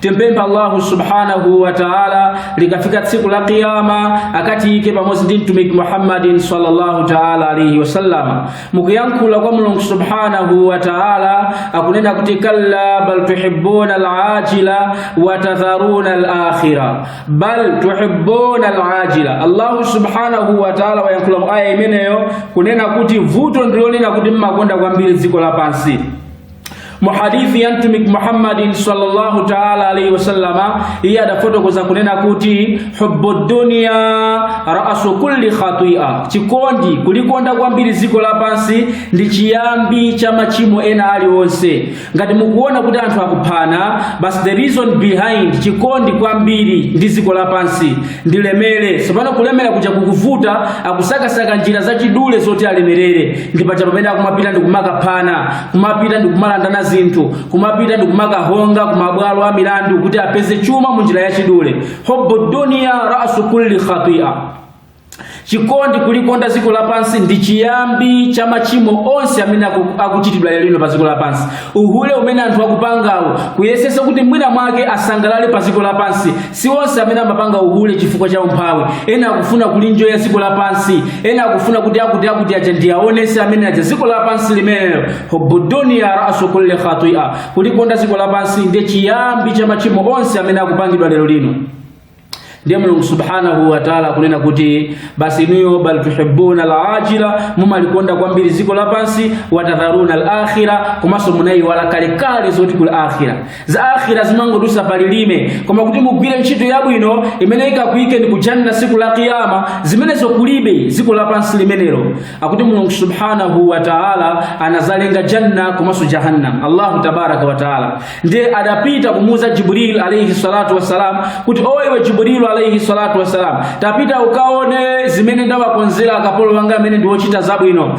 Timpempha Allahu subhanahu wa ta'ala likafika tsiku la kiyama akatiyike pamodzi ndi mtumiki Muhammadin sallallahu ta'ala alaihi wasallam. Mukuyankhula kwa Mulungu subhanahu wa ta'ala akunena kuti kalla bal tuhibbuna al-ajila wa tadharuna al-akhirah. Bal tuhibbuna al-ajila. Allahu subhanahu wa ta'ala wayankhula mu aya imeneyo kunena kuti vuto ndilonena kuti mmakonda kwambiri dziko lapansi mu hadithi ya mtumiki Muhammadin sallallahu taala alaihi wasallama, iye adafotokoza kunena kuti hubbu dunya raasu kulli khatia, chikondi kulikonda kwambiri dziko lapansi ndi chiyambi cha machimo ena alionse. Ngati mukuona kuti anthu akuphana, basi the reason behind chikondi kwambiri ndi dziko lapansi ndilemere. Tsopano kulemera kuja kukuvuta, akusakasaka njira zachidule zoti alemerere, ndi paja pamene akumapita ndi kumakaphana kumapita ndi kumalandana zinthu kumapita ndi kumakahonga kumabwalo a milandu kuti apeze chuma mu njira yachidule hubbu dunia rasu kulli khatia chikondi kulikonda dziko lapansi ndi chiyambi cha machimo onse amene aku- akuchitidwa lero lino pa dziko lapansi uhule umene anthu akupangawo kuyesesa kuti mwina mwake asangalale pa dziko lapansi Si onse amene amapanga uhule chifukwa cha umphawi. Ena akufuna kulinjoya dziko lapansi, ena akufuna kuti akuti akuti aja ndi aonese amene aja dziko lapansi limenelo. Hubbu dunya rasu kulli khatia, kulikonda dziko lapansi ndiye chiyambi cha machimo onse amene akupangidwa lero lino. Ndiye Mulungu subhanahu wa taala akunena kuti basi inuyo bal tuhibbuna alajila, mumalikonda kwambiri dziko lapansi, watadharuna alakhira, komanso munayiwala kalekale zoti kuli akhira. za akhira zimangodusa pa lilime koma kuti mugwire ntchito yabwino imene ikakuyikeni ku janna siku la kiyama zimenezo kulibe dziko lapansi limenelo akuti mulungu subhanahu wa taala anazalenga janna komanso jahannam allahu tabaraka wa taala ndiye adapita kumuuza jibril alaihi salatu wassalam kuti o iwe jibrilu alaihi salatu wassalam tapita ukaone zimene ndawakonzera akapolo wanga amene ndiwochita zabwino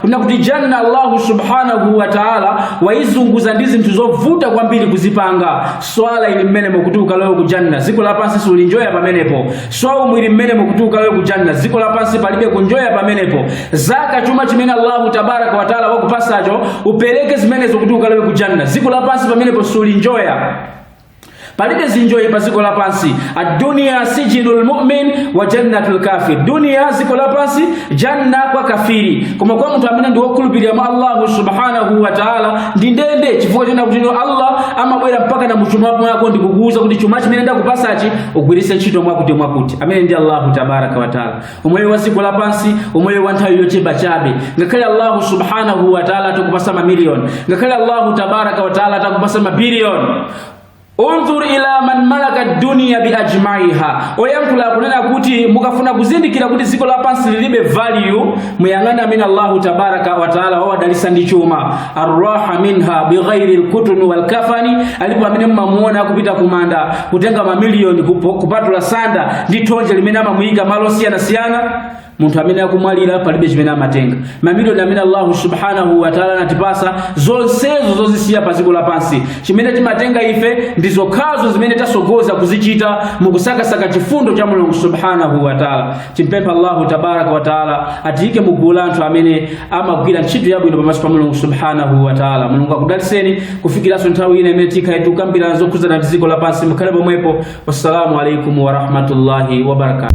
kunena kuti janna allahu subhanahu wa taala waizunguza ndi zinthu zovuta kwambiri kuzipanga swala ili mmenemo kuti ukalowe ku janna dziko lapansi sulinjoya pamenepo swaumu ili mmenemo kuti ukalowe ku janna dziko lapansi palibe kunjoya pamenepo zaka chuma chimene allahu tabaraka wa taala wakupasacho upereke zimenezo kuti ukalowe ku janna dziko lapansi pamenepo sulinjoya palibe zinjoyi pa dziko lapansi aduniya sijinu lmumin wa jannatu lkafir duniya dziko lapansi janna kwa kafiri koma kwa munthu amene ndi wokhulupirira mwa allahu subhanahu wa taala ndi ndende chifukwa chonena kuti no allah amabwera mpakana muchuma mwako ndikukuuza kuti chuma chimene ndakupasachi ugwiritse ntchito mwakuti mwakuti amene ndi allahu tabaraka wa taala umoyo wa dziko lapansi umoyo wa nthawi yochepa chabe ngakhale allahu subhanahu wataala atakupasa mamiliyoni ngakhale allahu tabaraka wataala atakupasa mabiliyoni unzur ila man malaka dunia biajmaiha oyankhula akunena kuti mukafuna kuzindikira kuti dziko lapansi lilibe value muyang'ane amene allahu tabaraka wataala wawadalisa ndi chuma arraha minha bighairi lkutuni walkafani alipo amene mmamuona akupita kumanda kutenga mamiliyoni kupatula sanda ndi thonje limene amamuyika malo osiyanasiyana munthu amene akumwalira palibe chimene amatenga mamiliyoni amene allahu subhanahu wataala anatipasa zonsezo zozisiya pa ziko lapansi chimene timatenga ife ndi zokhazo zimene tasogoza kuzichita mukusakasaka chifundo cha mulungu subhanahu wataala timpempha allahu tabaraka wataala atiyike mu gulu la anthu amene amagwira ntchito yabwino pamaso pa mulungu subhanahu wataala mulungu akudaliseni kufikiranso nthawi ina imene tikhale tikukambirana zokhuzana ndi dziko lapansi mukhale pomwepo wassalamu alaikum warahmatullahi wabarakatu